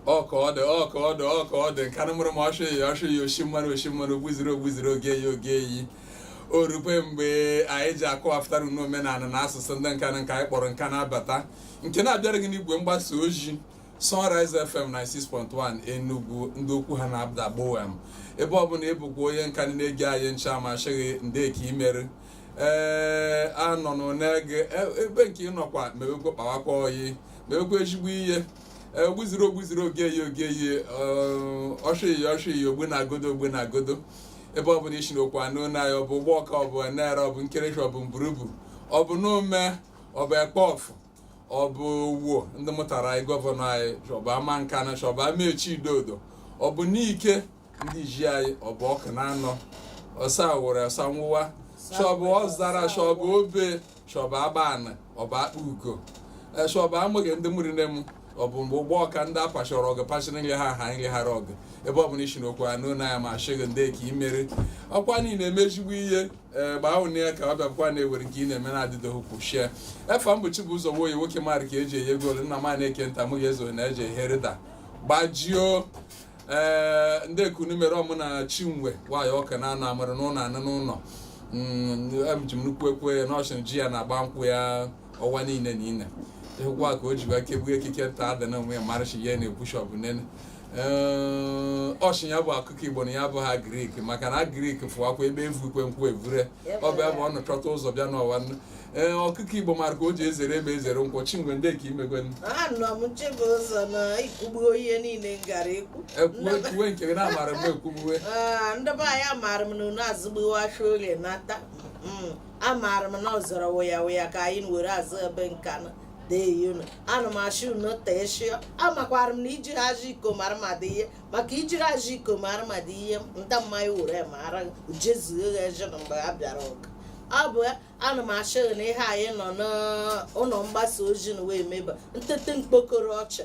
ọka ọdụ ọka ọdụ ọka ọdụ Nkanụ mụrụ m ọshụ ya ọshụ ya oshi mmanụ oshi mmanụ ogbuziri ogbuziri oge ya oge eyi o rukwe mgbe anyị ji akọwapụtara n'omenala na asụsụ ndị Nkanụ nke anyị kpọrọ Nkanụ Abata nke na-abịara gị n'igwe mgbasa ozi Sunrise FM 96.1 Enugu ndị okwu ha na-ada gbowem ebe ọbụla ịbụkwa onye Nkanụ na-ege anyị ncha m ashị gị ndee ka i mere ee anọ nụ na-ege e- ebe nke ịnọkwa mewekwa kpawakwa oyi mewekwa ezigbo ihe ee, ogbuziri ogbuziri ogeyi ogeyi ọshịyi ọshịyi ogbu na agodo ogbu na agodo ebe ọbụla isi na okwu anụ na ya ọ bụ Ugbawka ọ bụ Nara ọ bụ Nkerefi ọ bụ Mburubu ọ bụ Nome ọ bụ Akpọfụ ọ bụ Owo ndị mụtara anyị gọvanọ anyị shị ọ bụ Amankanụ shị ọ bụ Amechi Idodo ọ bụ Nike ndị ji anyị ọ bụ Ọkụnanọ ọsa were ọsa nwụwa shị ọ bụ Ọzara shị ọ bụ Obe shị ọ bụ Agbanị ọ bụ Akpugo e, shị ọ bụ Amụrị ndị mụrụ nne m ọ bụ mgbe Ugbawka ndị apachọrọ ọgụ pachiri nri ha ha nri hara ọgụ ebe ọ bụla isi n'okwu anụ na ya m ashị gị ndee ka i mere ọkwa na ị na-eme ezigbo ihe ee gbaa ụnụ ya ka ọ bịakwa na-ewere nke ị na-eme na adịdoghị kwụ shie efe mbọchị bụ ụzọ nwoye nwoke mmadụ ka eji enye goolu nna ma na-eke nta mụ ga-ezo na eji ehe rịda gbajio ee ndee ka unu mere ọmụ na Chinwe nwaanyị Ọkụnanọ amara n'ụlọ anụ n'ụlọ Mm, em ji m nnukwu ekwe n'ọchịn ji ya na-agba nkwụ ya ọwa niile na ine ịhụkwa ka o jiwa kegbu ekike nta ada na onwe ya marachi ya na ebushọp nene ee ọ shị ya bụ ọkụkọ Igbo na ya abụghị agrik maka na agrik fụwakwa ebe evu ikwe nkwụ evure ọ bụ ebe ọ nọchọta ụzọ bịa n'ụwa nnu. ee ọkụkọ Igbo mara ka o ji ezere ebe ezere nkwụ Chinwe ndee ka i megwe nnu. anọ m chebe ụzọ na ikwugbuo ihe niile m gara ekwu ekwuwe ekwuwe nke gị na-amara mgbe ekwuwe Ah, ndị be anyị amaara m na unu azụgbuwacha orie nata Mm. amaara m na ọ zọrọ wụya wụya ka anyị were azụ ebe Nkanụ dee unu ana m ashị unu tee shịọ amakwara m na ijiri ajọ iko mara mmadụ ihe maka ijiri ajọ iko mara mmadụ ihe nta mmanya were mara jezuo ya eje na mgbe ha bịara ụka ọ bụ ya ana m ashị gị na ihe anyị nọ n'ụlọ mgbasa ozi na wee meba ntete mkpokoro ọcha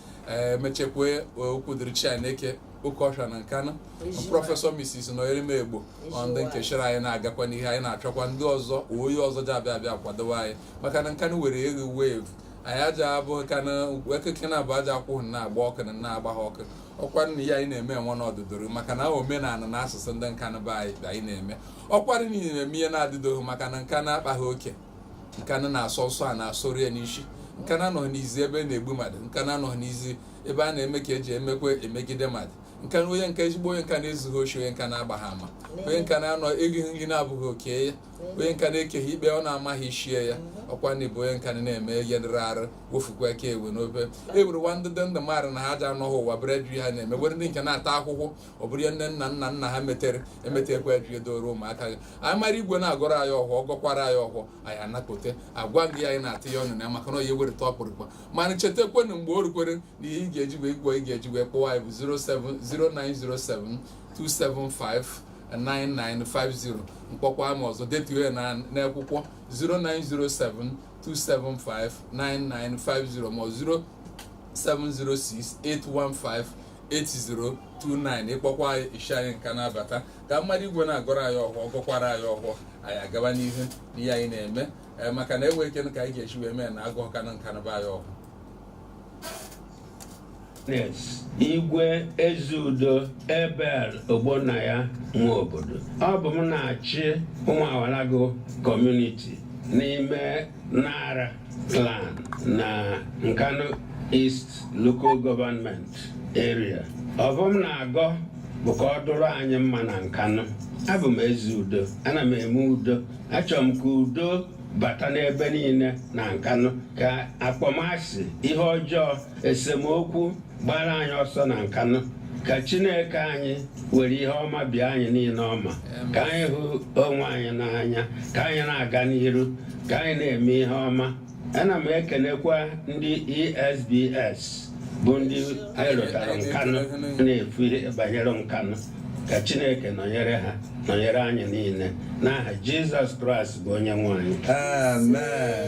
ee mechekwa okwu dịrị Chineke oke ọsha na Nkanụ prọfesọ Mrs. Nọnyerem Egbo ọ ndị nke shịrị anyị na-agakwa n'ihu anyị na-achọkwa ndị ọzọ onye ọzọ ji abịa abịa kwadowe anyị maka na Nkanụ were eghe wevu anyị aja abụ Nkanụ ekeke na abụ aja akwụghị na agba ọkụ na na-agba ha ọkụ ọkwara ihe anyị na-eme enwe n'ọdụdoro maka na omenala na asụsụ ndị Nkanụ be anyị anyị na-eme ọkwara ị na-eme ihe na-adịdoghị maka na Nkanụ akpaghị oke Nkanu na-asọ nsọ a na-asọrọ ya n'isi Nkanu anọghị n'izu ebe a na-egbu mmadụ Nkanu anọghị n'izu ebe a na-eme ka eji emekwa emegide mmadụ Nkanu onye nke ezigbo onye Nkanu ezughị oshi onye Nkanu agbaghị ama onye Nkanu anọ erighị nri na-abụghị oke ya onye Nkanu ekeghị ikpe ọ na-amaghị ishi ya ọkwa na bụ onye Nkanu na-eme ihe dịrị arụ wofukwa aka ewe n'obe e were nwa ndị dị ndụ mmadụ na ha ji anọghị ụwa bere ju ha na-eme were ndị nke na-ata akwụkwọ ọ bụrụ ihe nne nna nna nna ha metere emetekwa eji edoro ụmụaka gị anyị mara igwe na-agọrọ anyị ọhọ ọ gọkwara anyị ọhọ anyị anakpote agwa gị anyị na-atụ ya ọnụ na ya maka na onye wereta ọkpụrụkpa mana chetakwenụ mgbe o rukwere na ihe ị ga-eji wee gwọ ị ga-eji wee kpọọ anyị bụ 0907275 9950 m kpọkwa ama ọzọ detuo ya n'akwụkwọ 09072759950 ma ọ 0706 815 8029 ị kpọkwa anyị ị sị anyị Nkanu abata ka mmadụ igwe na-agọrọ anyị ọhọ ọ gọkwara anyị ọhọ anyị agaba n'ihu n'ihe anyị na-eme ee maka na enwe ike ka anyị ga-eji wee mee na agụ ọka na Nkanu be anyị ọhọ igwe ezeudo abel ogbonnaya nwobodo ọ bụ m na-achị umuawalagu community n'ime nara clan na Nkanu East Local Government Area ọhọ m na-agọ bụ ka ọ dụrụ anyị mma na Nkanu abụ m ezeudo ana m eme udo achọrọ m ka udo bata n'ebe niile na Nkanu ka akpọmasị ihe ọjọọ esemokwu gbaara anyị ọsọ na nkanụ ka chineke anyị were ihe ọma bịa anyị niile ọma ka anyị hụ onwe anyị n'anya ka anyị na-aga n'iru ka anyị na-eme ihe ọma ana m ekenekwa ndị esbs bụ ndị anyị lotara nkanụ na-efu ihe banyere nkanụ ka chineke nọnyere ha nọnyere anyị niile n'aha jizọs kraịst bụ onye nwe anyị amen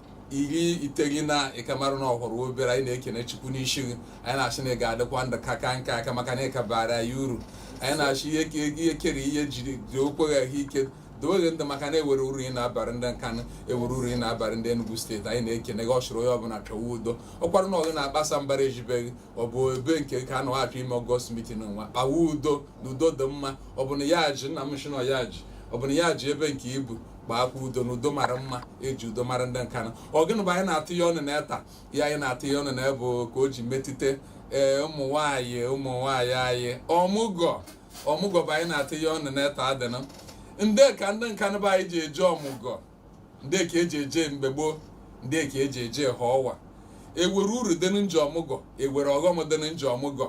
iri iteghị na ịkamarụ na ọhụrụ obere anyị na-ekene chukwu n'isi gị anyị na-asị na ị ga-adịkwa ndụ ka ka nka aka maka na ịka bara ya uru anyị na-asị ihe ka ego ihe kere ihe jiri dị okweghị ahụ ike doweghị ndị maka na ewere uru ị na-abarị ndị nkanụ ewere uru ị na-abarị ndị Enugu steeti anyị na-ekene gị ọchụrụ onye ọbụla chọwa udo ọkwara na ọgụ na-akpasa mbara ejibeghị ọ bụ ebe nke ka a na-achọ ime ọgọst mitin nwa kpawa udo na udo dị mma ọ bụ na ya ji nna m nshịnọ ya ji ọ bụ na ya ji ebe nke ibu gbaakwa udo na udo mara mma eji udo mara ndị Nkanu ọ gịnị bụ anyị na-atụ ya ọnụ na eta ya anyị na-atụ ya ọnụ na ebe ka o ji metụta ee ụmụ nwaanyị ụmụ nwaanyị anyị ọmụgọ ọmụgọ bụ anyị na-atụ ya ọnụ na eta adịna ndị ka ndị Nkanu be anyị ji eje ọmụgọ ndị ka eji eje mgbe gboo ndị ka eji eje ha ọwa ewere uru dị na nje ọmụgọ ewere ọghọm dị na nje ọmụgọ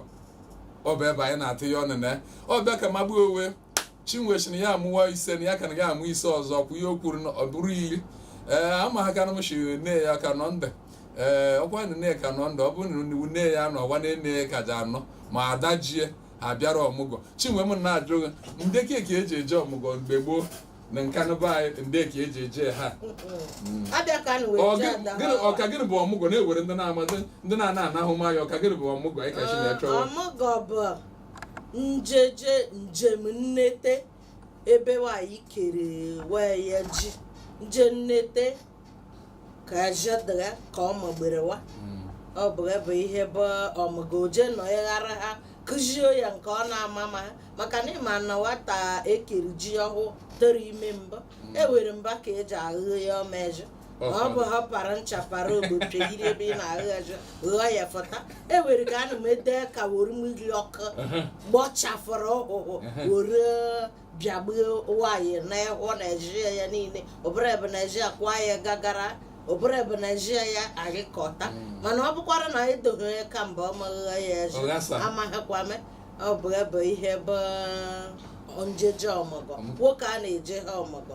ọ bụ ebe anyị na-atụ ya ọnụ na ọ bịa ka magbuo owe chinwe sị na ya amụwa ise na ya ka na ya amụ ise ọzọ kwụ ihe o kwuru na ọ bụrụ iri ee ama ha kana m si nne ya ka nọ ndụ ee ọkwa na nne ka nọ ndụ ọ bụrụ na nne- nne ya nọ ọwa na nne ya ka ji anọ ma ada jie ha bịara ọmụgwọ chinwe m na-ajụ gị ndị ka eji eje ọmụgwọ mgbe gboo na nkanu be anyị ndị ka eji eje ha abịa ka nụ Ọ wee jee gị- ada gịnị- ọka gịnị bụ ọmụgwọ na-ewere ndị na-amadị ndị na-ana anahụ maya ọka gịnị bụ ọmụgwọ anyị ka chi na-echọwa ọmụgọ bụ njeje njem nnete ebe nwanyị kere wee ya ji nje nnete ka jedra ka ọ magberewa ọ bụ ebe ihe bụ ọmụgọ o je nọ ịghara ha kụzie ya nke ọ na-ama ma maka na ịma na nwatakịrị ji ọhụụ tụrụ ime mbụ enwere mba ka eji aghụ ya ọma ezi ọ bụ ha para ncha para ogbo pịagide ebe ị na-aghụ ezi ghụọ ya fụta e nwere ka ana m ede ka were mmiri ọkụ gbọchafụrụ ụhụhụ were bịagbue nwaanyị n'ehọ na ezi ya niile ọ bụrụ ebe na ezi ya kwa ya gagara ọ bụrụ ebe na ezi ya agịkọta mana ọ bụkwara na anyị doghị ya ka mba ọ maghị ya ezi Ọ ghasa. amaghịkwame ọ bụ ebe ihe bụ njeje ọmụgọ nwoke a na-eje ha ọmụgọ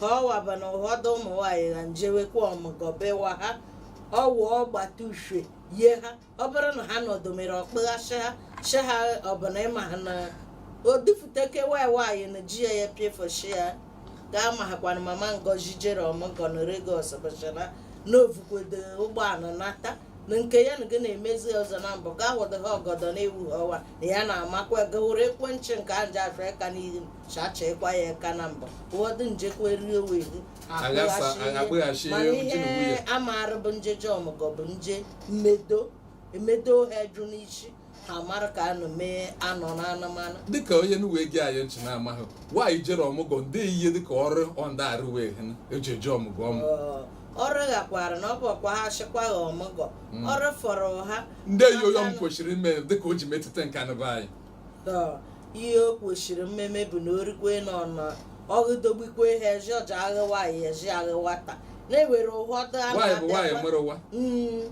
ha ọwaba na ụfọdụ ụmụ nwaanyị na njewekwa ọmụgọ bewa ha ọwụ ọgbata uhie yie ha ọ bụrụ na ha nọdụ mere ọkpụghasị ha si ha ọbụla ịma ha na odufuteke nwaanyị nwaanyị na ji ya ya pịefoshi ya ga-amahakwa na mama ngozi jere ọmụgọ na Lagos bụchara na o vukwedo ụgbọala nata na nke ya na gị na-emezi ọzọ na mbụ gaa wụdị ha ọgọdọ na-ewu ha ọwa na ya na-amakwa gawụrụ ekwentị nke a nje afị aka n'ihu chachekwa ya aka na mbọ ụfọdụ njekwa erie owe ihu Aghasa, akpụghachi mana ihe ihe nwunye. amarụ bụ njeje ọmụgọ bụ nje mmedo emedo ha jụ n'isi ha mara ka anụ mee anọ na anụmanụ dịka onye nu wee gee anyị ntị na-amaghị nwaanyị jere ọmụgwọ ndị ihe dịka ọrụ ọ na-arụ wee hụ eji eje ọmụgwọ ọmụ Ọ- ọrụ ghakwara na ọ bụ ọkwa ha chịkwa ha ọmụgọ ọrụ fọrọ ha ndị ihe onye ọmụ kwesịrị ime dịka o ji metụta nkanu be anyị ihe o kwesịrị mmeme bụ na o rukwe na ọnụ ọgụdogbikwe ha ezi ọ ja-aghụ nwaanyị ezi aghụ nwata na enwere ụhọdụ a nwaanyị bụ nwaanyị na-abịakwa mụrụ nwa Mm,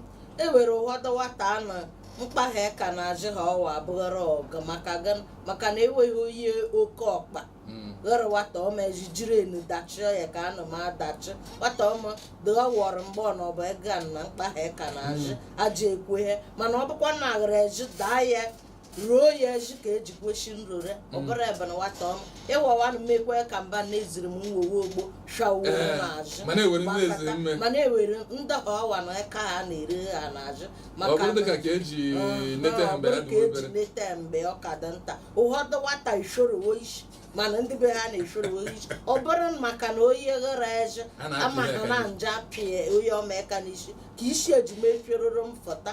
enwere ụhọdụ nwata a na mkpa ha ka na-azụ ha ọwa abụghara ọga maka gịnị? maka na enweghị onye oke ọkpa Mm. ghụrụ nwata ọma ezi jiri enu dachie ya ka anụ m adachị nwata ọma dịgha wọrọ mgbe ọ na ọba ego a na mkpa ha ka na-azụ aja ekwe ha mana ọ bụkwa na aghara ezi daa ya ruo ya eji ka eji kweshi nrore ọ bụrụ mm. ebe na nwata ọnụ ịwawanụ mmekwe ka mba na-eziri m nwowe ogbo shawuo eh, n'azụ ma na-ewere ndị ọwa na aka ha na-ere ha n'azụ maka bụrụ ka eji mm, nete mgbe ọ ka dị nta ụfọdụ nwata ishorowo isi mana ndị be ha na-eshorowo isi ọ bụrụ maka na onye ghara eze ama ha na nje apịa onye ọma aka n'isi ka isi eji mefieroro m fọta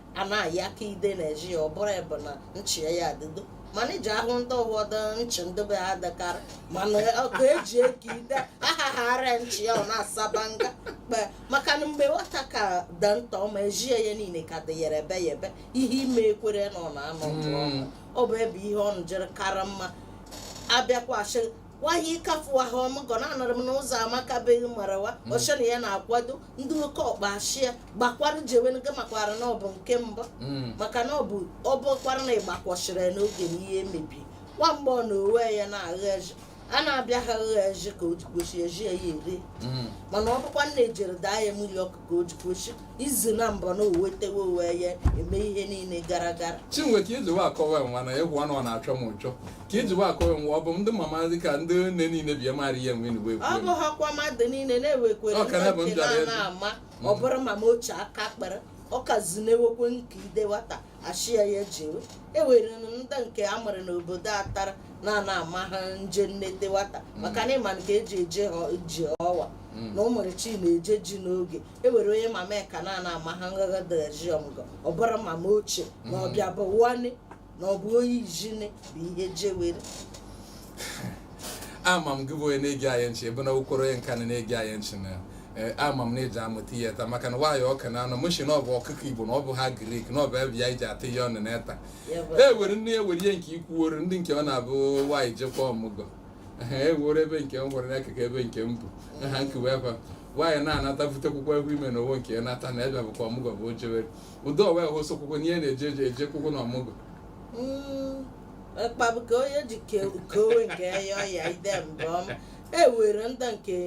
a na-ayị aka ide na-eji ya ọ bụrụ ebe na nchi ya adịdo mana iji ahụ ndị ụfọdụ nchi ndị be ha dịkarị mana ọkụ eji eke ide ahaghara nchi ya ọ na-asaba nga kpe maka na mgbe nwata ka dị nta ọma ejie ya niile ka dị yere ebe ya ebe ihe ime ekwere na ọ na-anọ ọgụ ọma. ọ bụ ebe ihe ọ njere kara mma abịakwasị wahi ịkafu ahụ ọmụgọ na-anọrọ m n'ụzọ amakabeghị marawa ọ chọ na ya na-akwado ndị oke ọkpa ashịa gbakwara jewenụ gị makwara na ọ bụ nke mbụ Mm. maka na ọ bụ ọ bụkwara na ịgbakwọchiri ya n'oge na ihe mebi nwa mgbe ọ na owe ya na-agha eji a na-abịa ha agha eji ka o ji kwesị eji ya ya eri Mm. mana ọ bụkwara na e jere daa ya mmiri ọkụ ka o ji kwesị izu na mbọ na o wetewe owe ya eme ihe niile gara gara chinwe ka ijiwe akọwa nwa na egwu anụ ọ na-achọ m ụchọ ka ijiwe akọwa nwa ọ bụ ndị mama dị ka ndị nne niile bịa mara ihe nwe n'uwe ọ bụ ha kwa mmadụ niile na-ewekwere Ọ ka na bụ ndị nke ndụ na abịa- ama ọ bụrụ mama ochie aka kpere ọ ka zinewekwe nke ide nwata ashịa ya jewe ewere m ndị nke a mụrụ n'obodo atara na ana ama ha nje nnete nwata maka na ịma nke eji eje ha ji ọwa na ụmụrụ chi na-eje ji n'oge ewere onye mama ya ka na ana ama ha ngagha daji ọmụgọ ọ bụrụ mama ochie na ọ bịa bụ wani na ọ bụ onye ijine bụ ihe jewere ama m gị bụ onye na-ege anyị nchi ebe na ụkwụrụ onye nka na na-ege anyị nchi na eh, ama m na eji amụta ihe taa maka na nwaanyị ọka na anọ mụchi na ọ bụ ọkụkọ igbo na ọ bụ ha agrik na ọ bụ ebe ya iji atụ ihe ọnụ na eta Ya bụ- e were nne ya were ihe nke ikwuoro ndị nke ọ na-abụ nwaanyị jekwa ọmụgọ e were ebe nke m gwara n'akụkụ ebe nke m bụ ha nkewa efa nwaanyị na-anata butekwukwa egwu ime na owo nke ya nata na ebe bụkwa ọmụgọ bụ o jewere ụdị ọwa hosokwukwo n'ihe na-eje eje ejekwukwo na ọmụgọ Mm, mkpabụ ka onye ji ke- kewe nke ya ọya ide mbọ m ewere ndị nke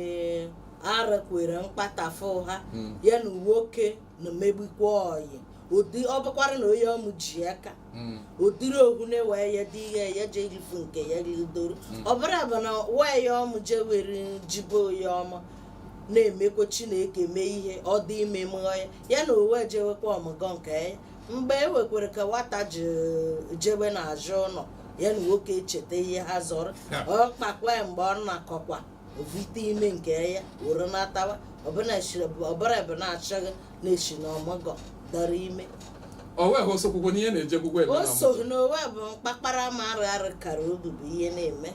arakwere mkpatafụ ha Mm. ya na nwoke na megbukwa oyi ụdị ọ bụkwara na onye ọma ji aka hmm. ọ dịrị ogbune wee ya dị ihe ya je irifu nke ya ridoro hmm. ọ bụrụ bụ na nwaanyị ọma jewere jibe onye ọma na-emekwa chineke mee ihe ọ dị ime mụọ ya ya na owe jewekwa ọmụgọ nke ya mgbe e wekwere ka nwata ji jebe n'azụ ụlọ ya na nwoke echeta ihe ha zọrọ ọ kpakwa mgbe ọ na-akọkwa ovite ime nke ya were natawa ọ bụrụ bụ na achọghị na-esi n'ọmụgọ dọrọ ime o wee hụ sokwukwo n'ihe na-eje gwugwo eme o na so mụ n'owe bụ mkpakpara ma arụ arụ kara obi bụ ihe na-eme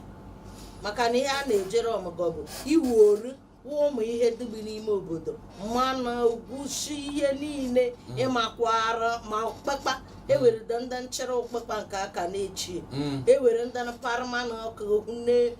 maka na ihe a na-ejere ọmụgọ bụ iwu oru wụ ụmụ ihe dịgbu n'ime obodo mmanụ ogwusi ihe niile ịmakwara ma ụkpakpa ewere ndị nchịrị ụkpakpa nke aka na-echi Mm. ewere ndị para mmanụ ọkụ ne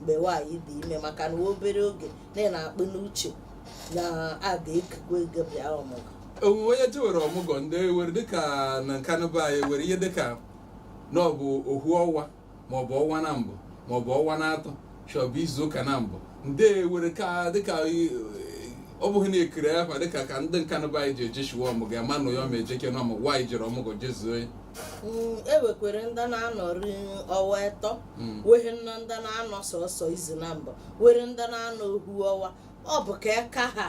mgbe nwaanyị dị ime maka na obere oge na ị na-akpụ n'uche na a ga-ekekwa ego bịa ọmụgwọ owuwe onye jewere ọmụgwọ ndị ewere dịka na Nkanu be anyị were ihe dịka na ọ bụ ohu ọnwa maọbụ ọnwa nambọ maọbụ ọnwa na atọ shọbụ izu ụka nambọ ndị ewere ka dịka eh, ọ bụghị na ekiri akwa dịka ka ndị Nkanu be anyị ji ejeshiwa ọmụgwọ ya ma nụ ya ọ ma ejeke na ọmụgwọ nwaanyị jere ọmụgwọ jezuo ya Mm, ewekwere ndị na-anọrị ọwa ịtọ Mm. wehe nọ ndị na-anọ sọsọ izu nambọ were ndị na-anọ ohu ọwa ọ bụ ka eka ha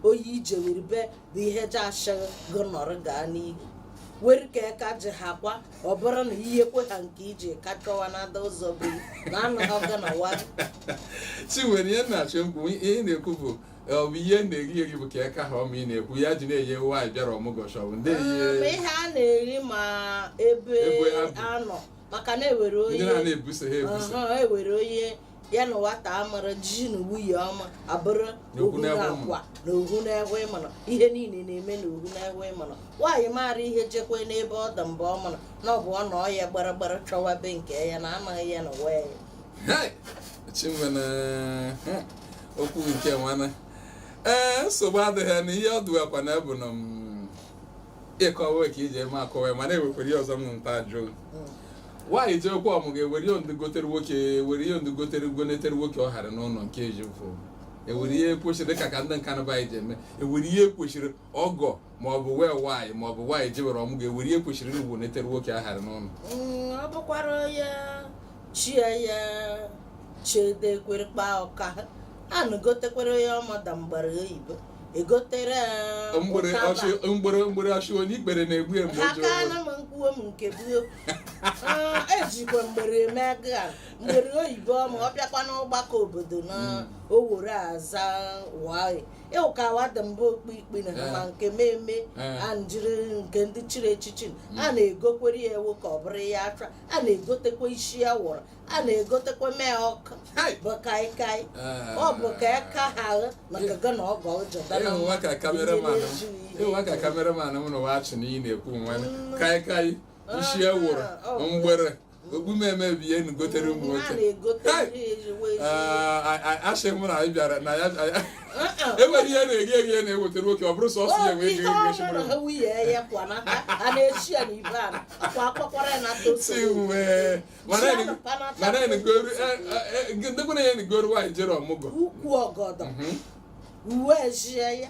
onye i jewere be bụ ihe ji ashị gị nọrị gaa n'ihu were ka eka ji ha kwa ọ bụrụ na ihe kwe ha nke iji ka chọwa na ada ụzọ be na anọghị gị na wa si nwere ihe m na-achọ mkpu ihe ị na-ekwu bụ ọ bụ ihe na-eri eri bụ ka eka ha ọma ị na-ekwu ya ji na-enye nwaanyị bịara ọmụgwọ shọbụ ndị Um, ihe ihe a na-eri ma ebe Ebe ha bi. anọ maka na ewere ndị na onye na-ebuso ha ebuso Aha, ewere onye ya na nwata amara ji na nwunye ọma abụrụ Na ohu ohu na na-ekwe akwa na ohu na-ekwe mana ihe niile na-eme na ohu na-ekwe mana nwaanyị maara ihe jekwe n'ebe ọ dị mgbe ọ mana na ọ bụ ọ na ọ ya gbara gbara chọwa be nke ya na anaghị ya na wee Hey! chimena hmm, okwu nke nwana ee nsogbu adịghị na ihe ọ dụwakwa na bụ na mm, ịkọwa ka iji eme akọwa ya mana ewekwere ihe ọzọ m nta jụụ nwaanyị jeko ọmụgọ ewere ihe ndị gotere nwoke ewere ihe ndị gotere gonetere nwoke ọ hara n'ụlọ nke eji bụ ewere ihe kwesịrị dịka ka ndị Nkanu be anyị ji eme ewere ihe kwesịrị ọgọ maọbụ wee nwaanyị maọbụ nwaanyị jewere ọmụgọ ewere ihe kwesịrị igonetere nwoke a hara n'ụnọ mm, ọ bụkwara ya chie ya chedekwere kpa ọka a na-egotekwere ya ọmada mgbara oyibo egotere mgbere mgbere ọchị onye ikpere na-egbu ya mgbu aka na m nkwuwe m nke buo ah, ejikwa mgbere eme aga mgbere oyibo ma ọ bịakwa n'ọgbakọ obodo na mm. owere aza wai ịwụkawa dị mbụ okpu ikpe na Eh. ma nke mmemme Eh. a njiri nke ndị chiri echichi a na-egokwere ya ewu ka ọ bụrụ ya acha a na-egotekwa isi anwụrụ a na-egotekwa mee ọkụ Hai! bụ kaikai Eh. ọ bụ ka aka ha ahụ maka gị na ọ ga ọjọ dara ịhụwa ka cameraman m ịhụwa ka cameraman m na wachi na ị na-ekwu nwa kaikai isi anwụrụ mgbere okpu meme bụ ihe ụnụ gotere ụmụ nwoke asị m na anyị bịara na ya enwere ihe na-eghe eghe na-eweta nwoke ọ bụrụ sọsọ ya enwe eghe ndekwana ya na-egoro nwaanyị jere ọmụgwọ uwe ejie ya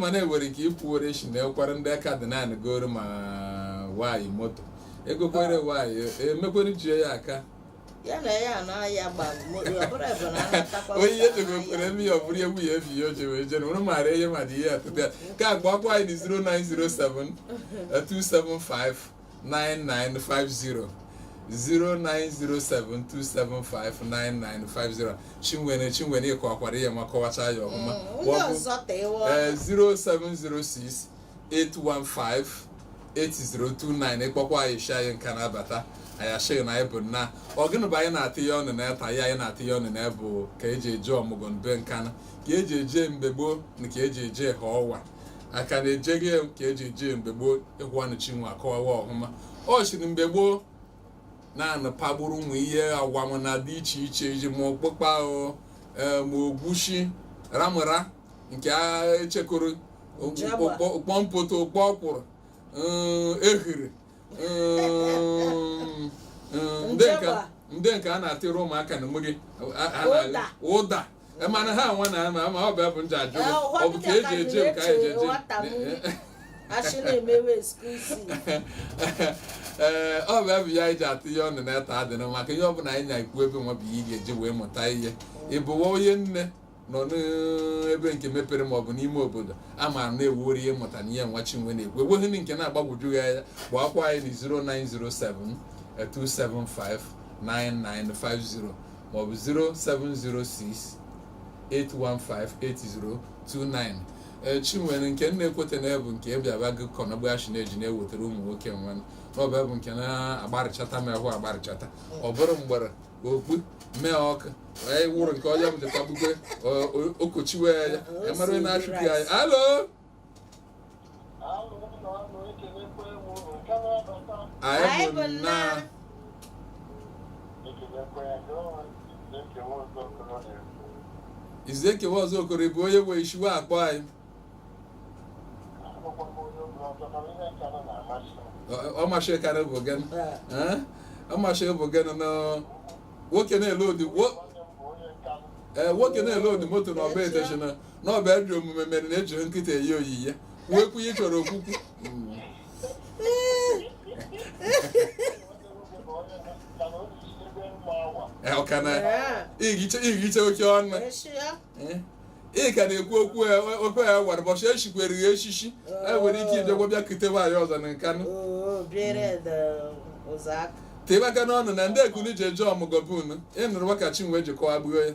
mana e nwere ike ikwuwere isi na ekwara ndị aka dị naanị goro ma nwaanyị moto egokwere nwaanyị emekwere ji ya aka ya na ya na ya onye ihe chegokwere eme ya ọ bụrụ egwu ya ebi ya o jewe jere ụrụ maara ihe ma dị ihe atụta ya ka agbakwa anyị na 0907 275 9950 09072759950 chinwere chinwere ịkọwakwara ihe nwa kọwacha ya ọhụma Mm, onye Ọ bụ- ọzọ tee ee, ọnụ. 0706 815 8029 ịkpọkwa anyị shi anyị Nkanu abata anyị ashịghị na anyị bụ nna ọ gịnị bụ anyị na-atụ ya ọnụ na eta ihe anyị na-atụ ya ọnụ na ya bụ ka eji eje ọmụgwọ mbe Nkanu ka eji eje mgbe gboo na ka eji eje ha ọwa aka na ejeghị ka eji eje mgbe gboo ị hụanụ chinwe akọwawa ọhụma ọ shịrị mgbe gboo na anụ pagburu ụmụ ihe agwam na dị iche iche ji ma ọkpụkpa o ee, ma ogwushi ramụra nke a echekoro Ojaba. ụkpọ mpoto ụkpọ ọkwụrụ mm, ehuru mm, mm, ndị nke- Njaba. ndị nke a na-atịrị ụmụaka na mmiri a- a na- Ụda. ụda e mana ha nwa na ama ama ọ bụ abụ nje ajụ Eh, ụwa ọ bụ ka eji eje m ka anyị ji eje nwata m achị na-emewe skuzi ee ọ bụ abụ ya anyị ji atụ ihe ọnụ na eta adịrị maka ihe ọ bụla anyị na-ekwu ebe nwa bụ ihe ị ga-eji wee mụta ihe ịbụwa onye nne nọ n'ebe nke mepere ma ọ bụ n'ime obodo a ma na e nwere ihe mụta na ihe nwa chinwe na-ekwu enweghị ndị nke na-agbagwoju ya anya gbakwa anyị na 0907 275 9950 maọbụ 0706 8158029 ee chinwere nke m na-ekweta na bụ nke bịaba gị kọnọgbachi na-eji na-ewetara ụmụ nwoke nwa n'ọba bụ nke na-agbarịchata m ahụ agbarịchata ọ bụrụ mgbere okpu mee ọkụ wee wụrụ nke ọya m dịkwa gbukwe okochiwe ya ya mara na-achụpụ ya alo anyị bụ nna izu ekewa ọzọ okoro bụ onye nwe ishiwe akpọ anyị Ọ- ọ masị karị bụ gị Eh? ọ masị bụ gị na nwoke na-ele odi wo- eh, nwoke na-ele odi moto na ọba eteshina na ọ bụ ajọ omume mere na ejiri nkịta eyi oyiye nwekwu ihe chọrọ okwukwu ọkana ihicha oke ọnụ ị ka na-ekwu okwu okwu ya gwara ụbọchị e chikwere ya echichi e nwere ike ịbịagwa bịa kute nwaanyị ọzọ na nkanu tebe aka n'ọnụ na ndị ekunu ji eje ọmụgọ bụ unu ịnụrụ maka chinwe jikọwa gbuo ya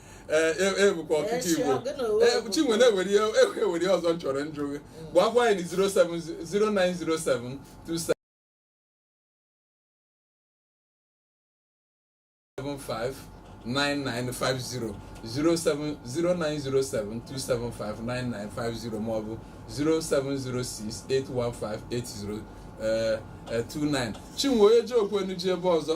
ebukwa e, e ọkụkọ igbo e, chinwe na e were ihe ọzọ m chọrọ njụ gị gwakwa anyị 0907275 9950 09072759950 maọbụ 07068158029 chinwe onye ji okwu enu ji ebe ọzọ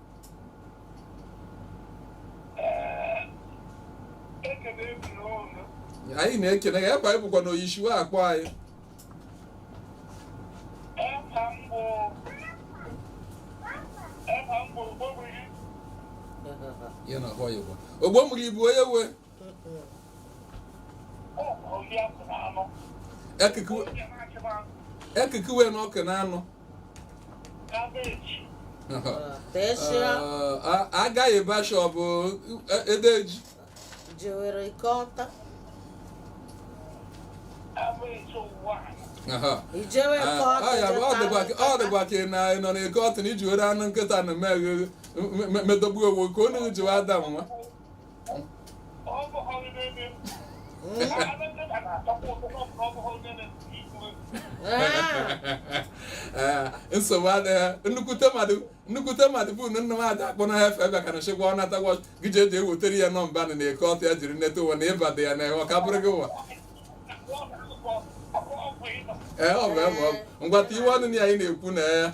anyị na-ekene ya ebe anyị bụkwa na oyishiwe akpọ anyị ya na ahụ ya ogbo mụrụ ibu onye wee ekikuwe na ọkụ na anụ agaghị basha ọ bụ edeji jewere eke ọtụ ọ dịkwa ka ị nọ n'eke ọtụ na iji were anụ nkịta na medogbu ewu ka onye jiwe ada nwa nsogbu adịghị nnukwute mmadụ nnukwute mmadụ bụ na nna m ada akpọ na efe bịa ka na chekwa ọ nata wọch gị ji eji ewetara ya nọmba na n'eke ọtụ ya jiri neta ụwa na ịba dị ya na ọ ka bụrụ gị ụwa ee ọ bụ ebe ọ bụ ngwata iwe ọnụ na ya anyị na-ekwu na ya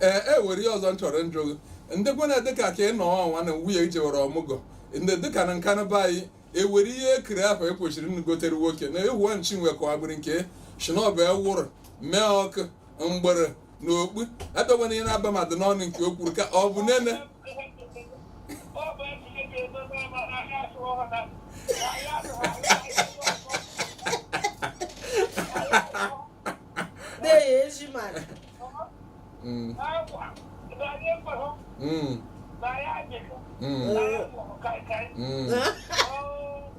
ee e were ihe ọzọ m chọrọ njụ gị ndị kwena dịka ka ị nọ ọnwa na nwunye ị jewere ọmụgọ ndị dịka na nkanu be anyị e were ihe ekiri afọ e kwesịrị nnugotere nwoke na ewu chinwe ka ọ bụrụ nke shi na ọ bụ ewụrụ mee ọkụ mgbere na okpu abịakwana ihe na-aba mmadụ n'ọnụ nke o kwuru ka ọ bụ nene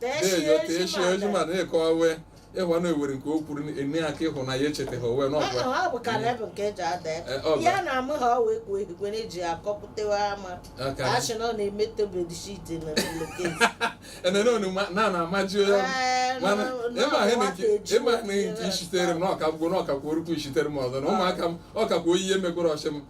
na-enyo ka echi oji ma na-eke owe ịhụ na ewere nke o kwuru enye ya ka ịhụ na ya echetaghị owe na ọgwa ọ bụ ka lebụ nke eji ada Eh, ọ bụ. ya na amụ ha ọ wee kwuo ehigwe na eji akọpụtewa ama Aka. achị na ọ na-emete bedsheet na loketi enene onuma na na amaji onye ọrụ. Ee, mana na- na- ịma ihe na nke nwata eji ịma ihe na nke obi isitere m na ọka gwụ na ọka kwuo orukwu isitere m ọzọ na ụmụaka m ọka kwuo ihe mekwara ọchị m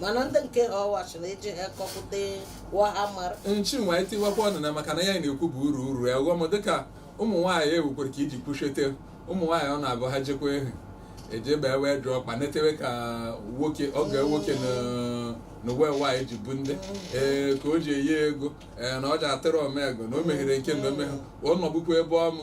mana ndị nke ha ọwachi na eji ha kọpụta wahamara nchi nwa etiwakwa ọnụ na maka na ya na-ekwu bụ uru uru ya ọghọm dịka ụmụ nwaanyị ewukwere ka iji kwuchete ụmụ nwaanyị ọ na-abụ ha jekwa ehi eje bee wee jụọ ọkpa netewe ka nwoke oge nwoke na- na uwe nwaanyị ji bụ ndị ee ka o ji eyi ego ee na ọ ji atịrị omego na o meghere nke na omeghe ọ nọbụkwa ebe ọmụ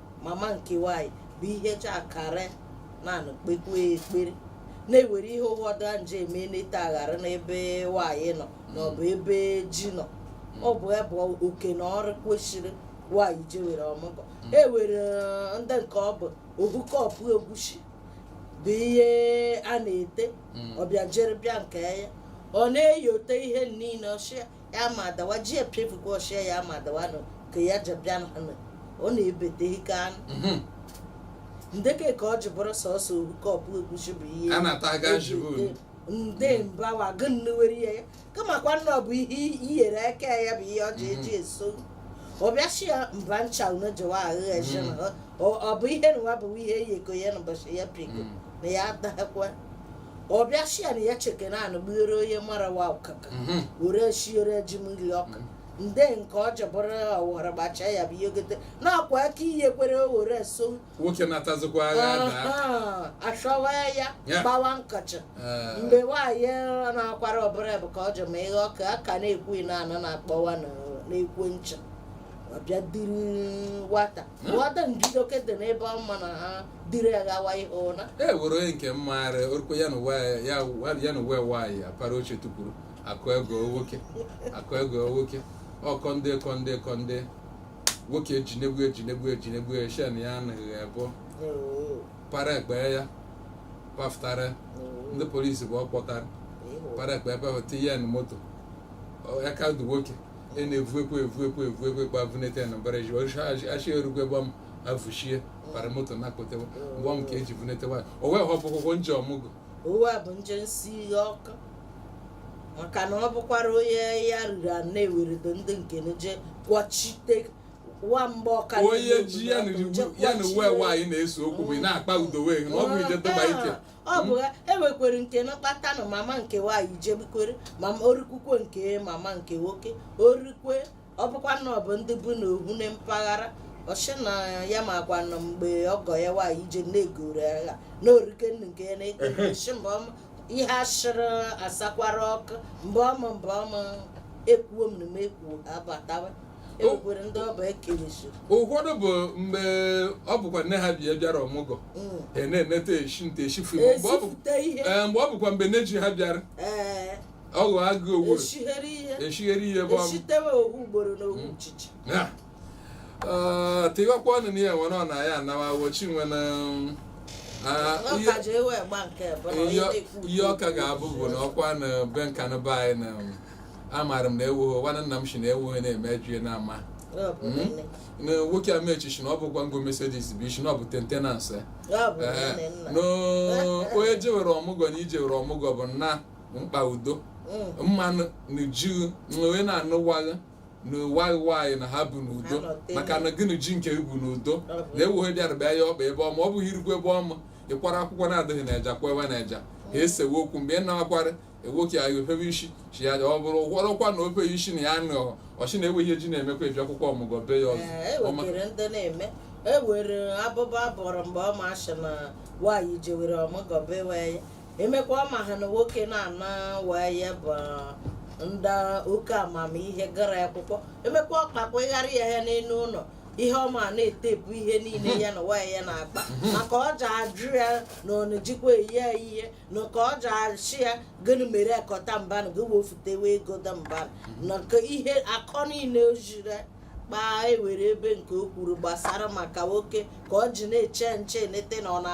mama nke nwanyị bụ ihe chakara na-anụ kpekwe ekpere na-ewere ihe ụfọdụ a nje eme n'ete aghara n'ebe nwanyị nọ na ọ bụ ebe ji nọ ọ bụ ebe oke na ọrụ kwesịrị nwanyị jewere ọmụgwọ e were eh, ndị nke ọ bụ obu kọpụ egwusi bụ ihe a na-ete ọbịa jere bịa nke ya ọ na-eyote ihe niile ọ shị ya ya ma dawa ji epiefugo ọ shị ya ya ma dawa nụ ka ya jebịa na nụ ọ na-ebete ike anụ Mhm. ndeke ka ọ ji bụrụ sọsọ obu kọpụ egwusi bụ ihe a na-ata aga eji njibu. ete nde mbawa gị nnewere ya ya kamakwa nna ọ bụ ihe iyere aka ya bụ ihe ọ ji eji eso ọ bịa shị ya mba ncha unu jewa ahụ eje na ọ- ọ bụ ihe nwa bụ ihe eyeko ya n'ụbọchị ya piko Mm. na ya adakwa ọ bịa shị ya na ya cheke na anụ gbughere onye mụrụ nwa ọkụkọ Mhm. were shiere ji mmiri ọkụ nde nke ọ jebụrụ ọwara gbacha ya bụ ihe gote na-akwa aka ihe kwere o were so nwoke na-atazikwa agha daa Aha, achọwa ya Ya. gbawa nkọchị Ee, mgbe nwaanyị na-akwara ọbụla bụ ka ọ jụ ma ihe ọka a ka na-ekwu na anọ na-akpọwa na- na-ekwu ncha ọbịa duru nwata nwata njudoke dị n'ebe ọma na ha dịrị ya gawa ihe ụra e were onye nke mmaara orukwe ya na uwe ya ya na uwe nwaanyị apara oche tụpụrụ akụ ego nwoke akụ ego nwoke ọkọ ndị kọ ndị kọ ndị nwoke ejinegbu ejinegbu ejinegbu shen ya anaghị ebo para ekpe ya pafụtara ndị polisi bụ ọ kpọtara para ekpe ebe ahụ tinye ya na moto Ọ- aka dị nwoke e na-evu ekwe evu ekwe evu ekwe gbavunete na mbara ji ọchị achị erugwe gbam avushie para moto na akpotewa ngwa m ka eji vunete nwaanyị o wee họpụ ụgwọ nje ọmụgwọ ọwa bụ nje nsi ihe ọkụ maka na ọ bụkwara onye ya riri a na-eweredo ndị nke na je kwọchite wa mgbe ọka onye ji ya na iwu- ya na uwe nwaanyị na-ese okwu bụ ị na-akpa udo wee na ọ bụ ije dọba ike ọ bụ ya ewekwere nke na kpata na mama nke nwaanyị jebikwere mama orikwukwe nke mama nke nwoke orikwe ọ bụkwa na ọ bụ ndị bụ na ohu na mpaghara ọ shị na ya makwa na mgbe ọgọ ya nwaanyị ije na-egoro agha na orike nnu nke ya na-ekechi mgbe ọma ihe ashịrị asakwara ọkụ mgbe ọma mgbe ọma ekwuo m na m ekwuo abatawa ekwukwere ndị ọba ekerechi ụfọdụ bụ mgbe ọ bụkwa nne ha bịa bịara ọmụgọ Mm. e na-eneta eshi nte eshi fụ mgbe ọ bụ- ezipụta ihe ee, mgbe ọ bụkwa mgbe nne ji ha bịara ee ọghọ agụ owu eshighere ihe eshighere ihe bụ eshitewe owu ugboro na owu nchicha tiwakwa ọnụ na ya nwere ọ na ya anawa wochi nwere ihe ọka ga-abụ bụ na ọkwa na be Nkanu be anyị na amaara m na ewughị nwanne nna m si na ewughị na-eme jue na ama Hmm? na nwoke a mechichi na ọ bụkwa ngo Mercedes bụ isi na ọ bụ tentenanse eh, onye jewere ọmụgwọ na i jewere ọmụgwọ bụ nna mkpa udo mm. mmanụ na ji nwe na-anụwaghị na nwa gị nwaanyị na ha bu n'udo maka na gị na ji nke bu n'udo na ewuhe bịara bịa ya ọkpa ebe ọma ọ bụghị irigwe ebe ọma ị kwara akụkọ na-adịghị na eja kwewa na eja ha esewe okwu mgbe ị na-akwara nwoke ya ofebe isi chi ya ọ bụrụ gwọrọkwa na ofe isi na ya nọ ọ shị na ewe ihe ji na-emekwa ị bịakwukwa ọmụgwọ be ya ọzọ e ewere abụba bọrọ mgbe ọ ma asị na nwaanyị jewere ọmụgwọ be ya emekwa ma ha na nwoke na-ana nwaanyị ya bụ ndị oke amamihe gara akwụkwọ emekwa ọkpakwa ịgharị ya ya n'elu ụlọ ihe ọma na-etepu ihe niile ya na nwaanyị ya na-akpa maka ọ ji ajụ ya na ọ na-ejikwa enye ya ihe na ka ọ ji ashị ya gịnị mere akọta mba na gị wefutewe ego da mba na ka ihe akọ niile o jiri kpaa ewere ebe nke o kwuru gbasara maka nwoke ka ọ ji na-eche nche nete na ọ na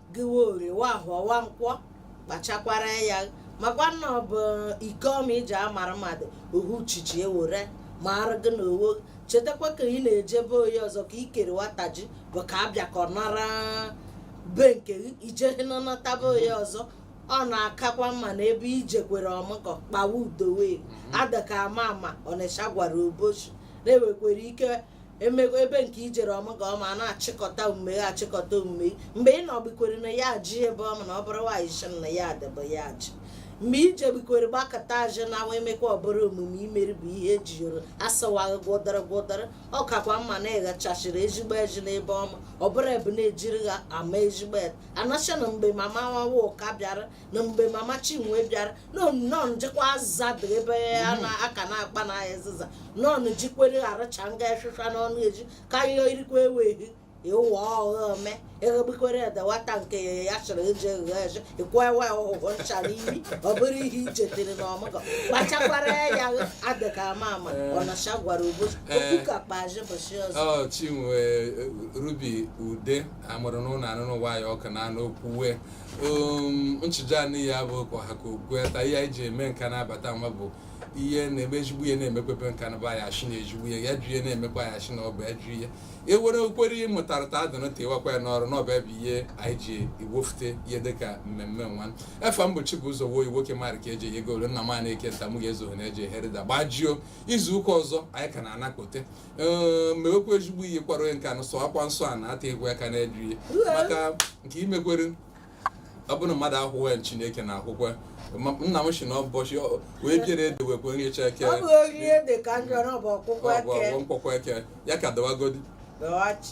gịwa orie wa ahọ wa nkwọ kpachakwara ya makwa na ọ bụ ike ọma iji amara mmadụ ohu chichi ewere ma arụ gị na owo chetakwa ka ị na-eje be onye ọzọ ka ikere nwata ji bụ ka abịa ka ọ nara be nke gị ije nọnọta be onye ọzọ ọ na-akakwa mma na ebe i jekwere ọmụgọ kpawa udo wee adaka ama ama Ọnịcha gwara Obosi na-ewekwere ike emego ebe nke i jere ọmụgọ ọma na-achịkọta omume ya achịkọta omume mgbe ị nọgbikwere na ya ji ebe ọma na ọ bụrụ nwaanyị shị na ya adịbụ ya ji mgbe ije gbikwere gbakụta azị na nwa emekwa ọ bụrụ omume i mere bụ ihe eji yoro asịwaghị gwọdara gwọdara ọ kakwa mma na ịghachachiri ezigbo ezi n'ebe ọma ọ bụrụ ebu na-ejiri ha ama ezigbo ete a na-ashị na mgbe mama nwawa ụka bịara na mgbe mama chinwe bịara nọn jikwa azịza dị ebe a na aka na-akpa na azịza nọn jikwere aracha nga efefa n'ọnụ eji ka ihe irikwa eweghị ịwụ ọghọ ome eghegbukwere edewata nke ya chọrọ eji eghe eji ịkwa ewe ọhụhụ ncha n'imi ọ bụrụ ihe ichetere na ọmụgọ kpachakwara ya adịka ama ama ọnacha gwara ụbọchị okwu ka kpaji bụchi ọzọ ọ Chinwe eh, Rubi Ude amụrụ n'ụlọ anụ nwayọ ka na anụ okwu we nchụja anị ya bụ ka ọha ka okwu ta ihe anyị ji eme Nkanu abata nwa bụ ihe na-eme ezigbo ihe na-emekwa be Nkanu ba ya shị na ezigbo ihe ajọ ihe na-emekwa ya shị na ọ bụ ajọ ihe ewere okwere ihe mụtara ta adịnụ tiwakwa ya n'ọrụ n'ọba ebe ihe anyị ji iwofute ihe dịka mmemme nwa efa m bụ Chibụzọ wuo nwoke mara ka eji ego ole nna m na-eke nta m ga-ezo na eji eherida gbajuo izu ụka ọzọ anyị ka na-anọkọte ee mewekwa ezigbo ihe kwara onye Nkanu sọ akwa nsọ a na-ata egwu aka na ajọ ihe maka nke imekwere ọ bụrụ mmadụ ahụghị Chineke na-ahụkwa Ma- nna m si na ụbọchị ọ- wee biere ede wekwe nri eche eke ọ bụ orie dị ka njọ na ọ bụ ọkpụkpọ eke ọgwụ nkwọkwa eke ya ka dawagodi dọghachi